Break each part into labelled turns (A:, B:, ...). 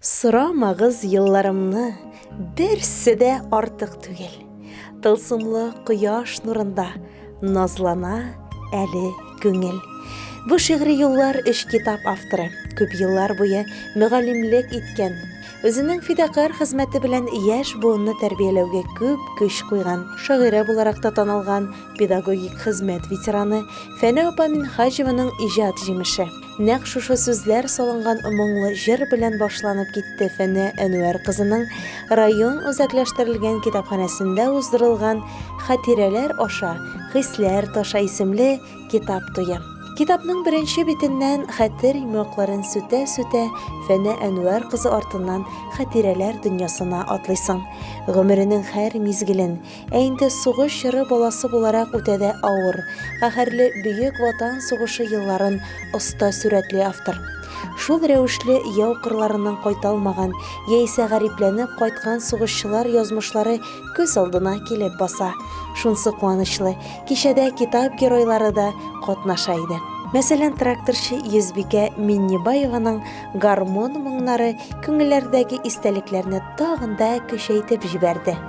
A: Сорамагыз елларымны, берсе дә артык түгел. Тылсымлы кояш нурында назлана әле күңел. Бу шигъри юллар өч китап авторы, күп еллар буе мөгаллимлек иткән, үзенең фидакарь хезмәте белән яшь буынны тәрбияләүгә күп көч куйган, шагыйрә буларак та танылган педагогик хезмәт ветераны Фәнә апа Минһаҗеваның иҗат җимеше. Нәкъ шушы сүзләр салынган моңлы җыр белән башланып китте Фәнә Әнвәр кызының район үзәкләштерелгән китапханәсендә уздырылган Хатирәләр аша хисләр таша исемле китап туе. Китапның беренче битеннән хәтер йомгакларын сүтә-сүтә Фәнә Әнвәр кызы артыннан хатирәләр дөньясына атлыйсың. Гомеренең һәр мизгелен, Ә инде сугыш чоры баласы буларак үтә дә авыр, каһәрле Бөек Ватан сугышы елларын оста сурәтли автор. Шул рәвешле яу кырларыннан кайталмаган яисә гарипләнеп кайткан сугышчылар язмышлары күз алдына килеп баса. Шунсы куанычлы, кичәдә китап геройлары да катнаша иде. Мәсәлән, тракторчы Йөзбикә Миннебаеваның гармун моңнары күңелләрдәге истәлекләрне тагын да көчәйтеп җибәрде.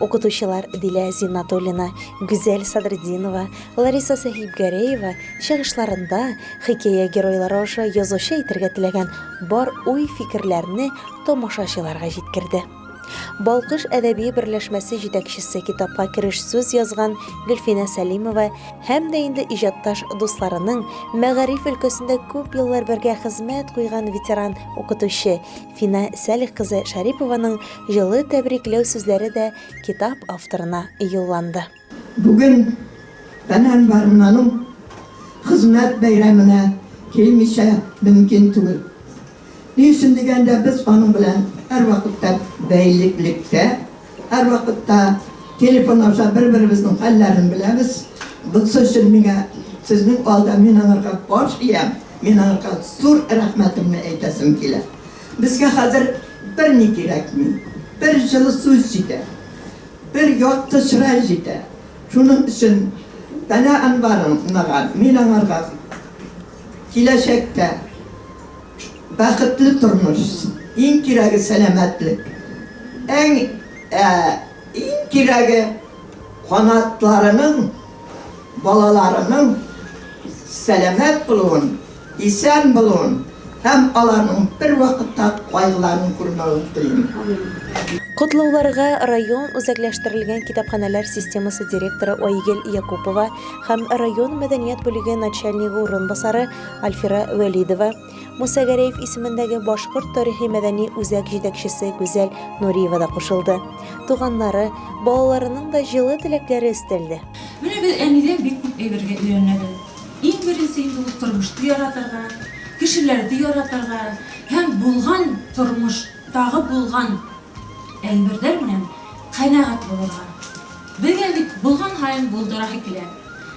A: Укытучылар Дилә Зиннатуллина, Гүзәл Садретдинова, Лариса Сәхибгәрәева чыгышларында хикәя геройлары аша язучы әйтергә теләгән бар уй-фикерләрне тамашачыларга җиткерде. Балкыш әдәби берләшмәсе җитәкчесе китапка кереш сүз язган Гөлфинә Сәлимова һәм дә инде иҗатташ дусларының мәгариф өлкәсендә күп еллар бергә хезмәт куйган ветеран укытучы Фина Сәлих кызы Шарипованың җылы тәбрикләү сүзләре дә китап авторына юлланды. Бүген
B: Фәнән Барманың хезмәт бәйрәменә килмичә мөмкин түгел. Ни өчен дигәндә, без аның белән һәрвакытта бәйлелектә Һәрвакытта телефон аша бер-беребезнең хәлләрен беләбез. Бунсы өчен миңа сезнең алда мин аңарга баш иям, мин аңарга зур рәхмәтемне әйтәсем килә. Безгә хәзер берни кирәкми. Бер җылы сүз җитә. Бер якты чырай җитә. Шуның өчен Данә Әнваровнага мин аңарга киләчәктә Бәхетле тормыш, иң кирәге сәламәтлек, әң ә иң кирәге канатларының, балаларының сәламәт булуын, исән булуын һәм аларның бервакытта кайгыларын күрмәвен телим. Котлауларга
A: район үзәкләштерелгән китапханәләр системасы директоры Айгел Якупова һәм район мәдәният бүлеге начальнигы урынбасары Альфира Вәлидова, Муса Гәрәев исемендәге башкорт тарихи-мәдәни үзәк җитәкчесе Гүзәл Нуриева да кушылды. Туганнары, балаларының да җылы теләкләре өстәлде. Менә без әнидән
C: бик күп әйбергә өйрәнәбез. Иң беренче инде ул тормышты яратырга, кешеләрде яратырга һәм булган тормыштагы булган әйберләр белән канәгать булырга. Безгә бит булган һаен булдырасы килә.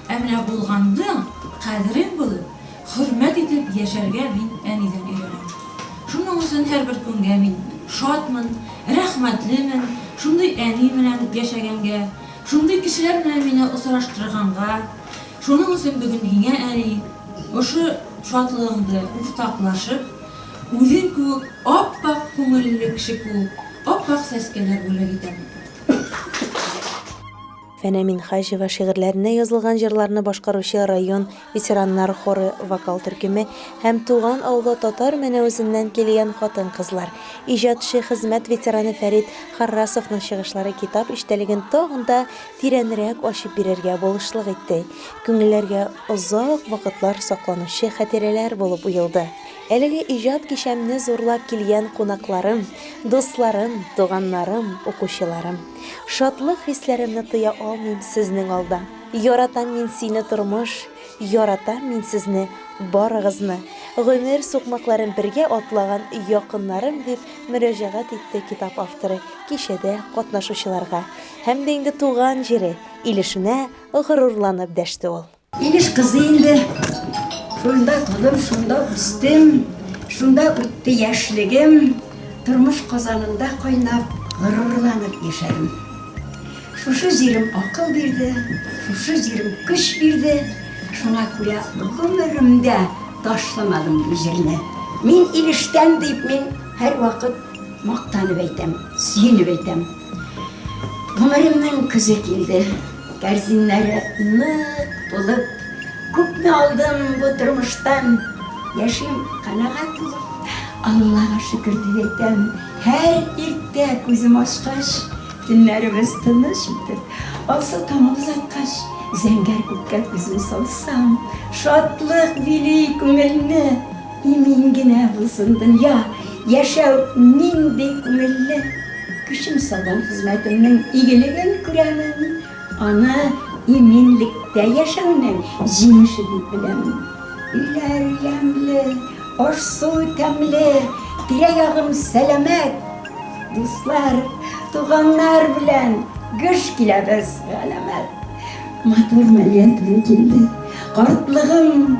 C: Ә менә булганның кадерен белеп, хөрмәт итеп яшәргә мин әнидән өйрәнәм. Шуның өчен һәрбер көнгә мин шатмын, рәхмәтлемен, шундый әни белән яшәгәнгә, шундый кешеләр белән мине очраштырганга. Шуның өчен бүген миңа әни ошо шатлыгыңды уртаклашып, үзең кебек ап-ак күңелле кеше куып, ап-ак сәскәләр бүләк итәм.
A: Фәнә Минхаҗева шигырьләренә язылган җырларны башкаручы район ветераннар хоры вокал төркеме һәм туган авылы Татар Мәнәвезеннән килгән хатын-кызлар, иҗатчы хезмәт ветераны Фәрит Харрасовның чыгышлары китап эчтәлеген тагын да тирәнрәк ачып бирергә булышлык итте, күңелләргә озак вакытлар сакланучы хатирәләр булып уелды. Әлеге иҗат кичәмне зурлап килгән кунакларым, дусларым, туганнарым, укучыларым! Шатлык хисләремне тыя алмыйм сезнең алда. Яратам мин сине, тормыш, яратам мин сезне, барыгызны! Гомер сукмакларын бергә атлаган якыннарым, дип мөрәҗәгать итте китап авторы кичәдә катнашучыларга һәм дә инде туган җире, Илешенә
D: горурланып
A: дәште
D: ул.
A: Илеш кызы инде.
D: Шунда тудым, шунда үстем, шунда үтте яшьлегем. Тормыш казанында кайнап, горурланып яшәрем. Шушы җирем акыл бирде, шушы җирем көч бирде. Шуңа күрә гомеремдә ташламадым бу җирне. Мин Илештән дип мин һәрвакыт мактанып әйтәм, сөенеп әйтәм. Гомеремнең көзе килде, кәрзиннәре нык тулып, күпне алдым бу тормыштан, яшим канәгать булып. Аллага шөкер дип әйтәм, һәр иртә күзем ачкач, төннәремез тыныч үтеп, алсу таңы озаткач, зәңгәр күккә күзем салсам, шатлык били күңелне. Имин генә булсын дөнья, яшәү нинди күңелле! Көчем салган хезмәтемнең игелеген күрәмен, аны иминлектә яшәүнең җимеше дип беләмен. Өйләр ямьле, аш-су тәмле, тирә-ягым сәламәт. Дуслар, туганнар белән гөж киләбез, галәмәт! Матур мәрьям туры килде, картлыгым!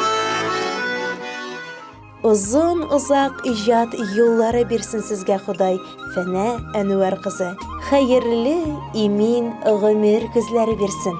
A: Озын озак иҗат юллары бирсен сезгә Ходай, Фәнә Әнүәр кызы. Хәерле, имин гомер көзләре бирсен.